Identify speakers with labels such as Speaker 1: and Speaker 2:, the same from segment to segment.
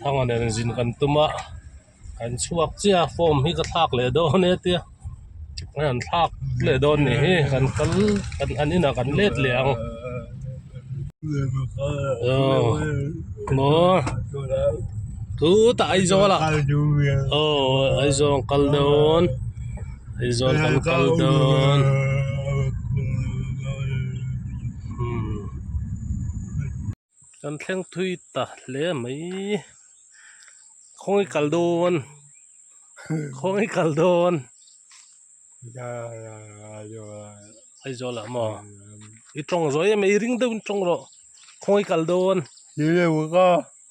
Speaker 1: Thanga nen zin kan tum a, kan chhuak chiah a, form hi ka thlak leh dawn e tia, kan han thlak leh dawn ni hi, kan kal kan han in ah kan let leh ang aw maw thu ta Aizawl ah aw Aizawl an kal dawn, Aizawl kan kal dawn umm. Kan thleng thui ta hle a mai khawngaih kal dawn khawngaih kal dawn Aizawl ah maw i tawng zawih em i ring deuhin tawng rawh khawngaih kal dawn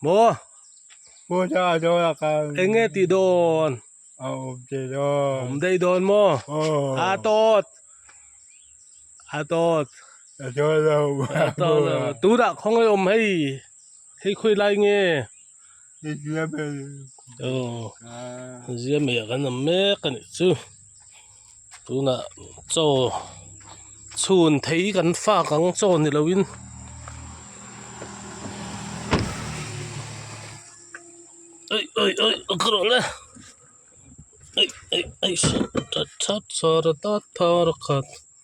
Speaker 1: maw eng nge tih dawn a awm daih dawn maw a tawt a tawt. Ka tawh lo ka tawh lo. Tunah khawngawi awm hei hei khawi lai nge. Ka zia mai a kan awm mek a. Aw zia mai a kan awm mek a nih chu tunah chaw chhun thei kan fak ang chaw ni lo in awih awih awih a ka rawh la awih awih awih sawrh ta that sawrh ta that tha rakhat.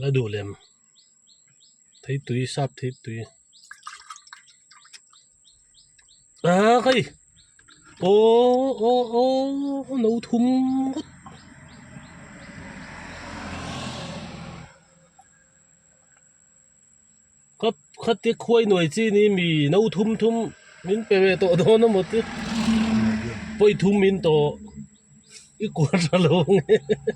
Speaker 1: la duh lem thei tui sap thei tui aa kai aww aww aww no thum ngawt Kha khate khuai nuai chi ni mi no thum thum min pe ve tawh dawn a maw te pawi thum min tawh i kual tha lo hahahaha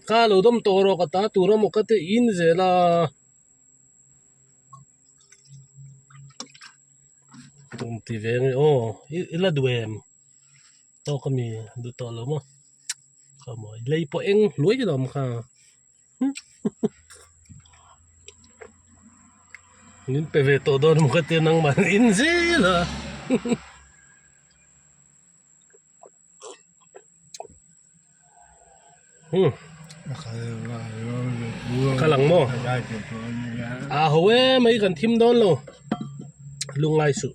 Speaker 1: kha lo dam tawh erawh ka ta tur a maw ka ti inzel a kum ti ve nge aw i la duh em tawk a mi duh tawh lo maw. khawmawh lei pawh eng hnuai ka lawm kha min pe ve tawh dawn maw ka tia nangmah an in zel a ka lang maw aa haw e mai kan thim dawn lo lungngai suh.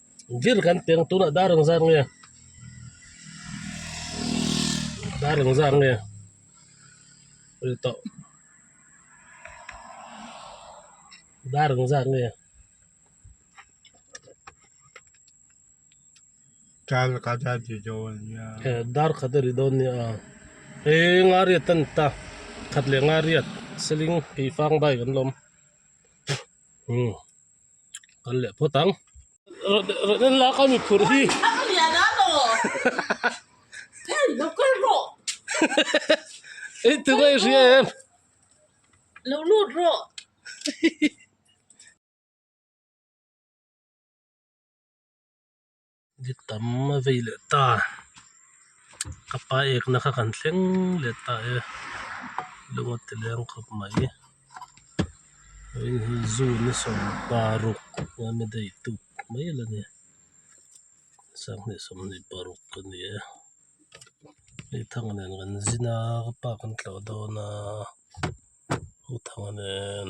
Speaker 1: Zir kan peng tunah dar eng zar nge? Dar eng zar nge? Ri tawh. Dar eng zar nge? Dar kha da ri dawn nia. E, dar kha da ri dawn nia a. E, nga riat a ni ta. Khat leh nga riat. Siling, Keifang bai kan la awm. umm kan leh phawt ang rehna lak a miphur hi eitur a hria em lo lut rawh hihi. Dik tam a vei leh ta ka pa ekna kha kan thleng leh ta e lung a tiliang khawp mai heihi zu ni sawm paruk ania dei tuk mai la ni sanghnih ni paruk a ni e hei thanga nen kan zin a ka pa kan tloh dawn a hu thanga nen.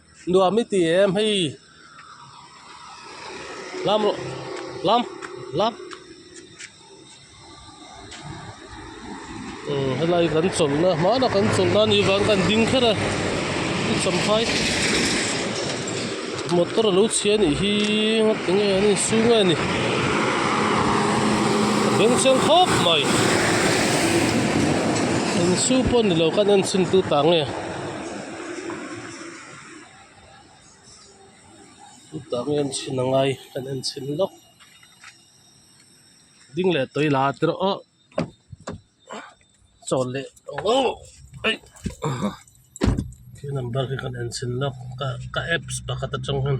Speaker 1: Nuam i ti em hei lam lam lam umm helai kan chawlhna hmana kan chawlh nan hi vang kan ding kher a i chawm khai motor a lo chhia nih hi ngati nge an insu nge ni a beng chiang khawp mai insu pawh ni lo ka nen chhin tu ta nge. chutah mi an chhin angai kan en chhin lawk ding leh tawi la te rawh awh chaw leh awh aih khi number khi kan en chhin lawk ka ka apps pakhat atang hian.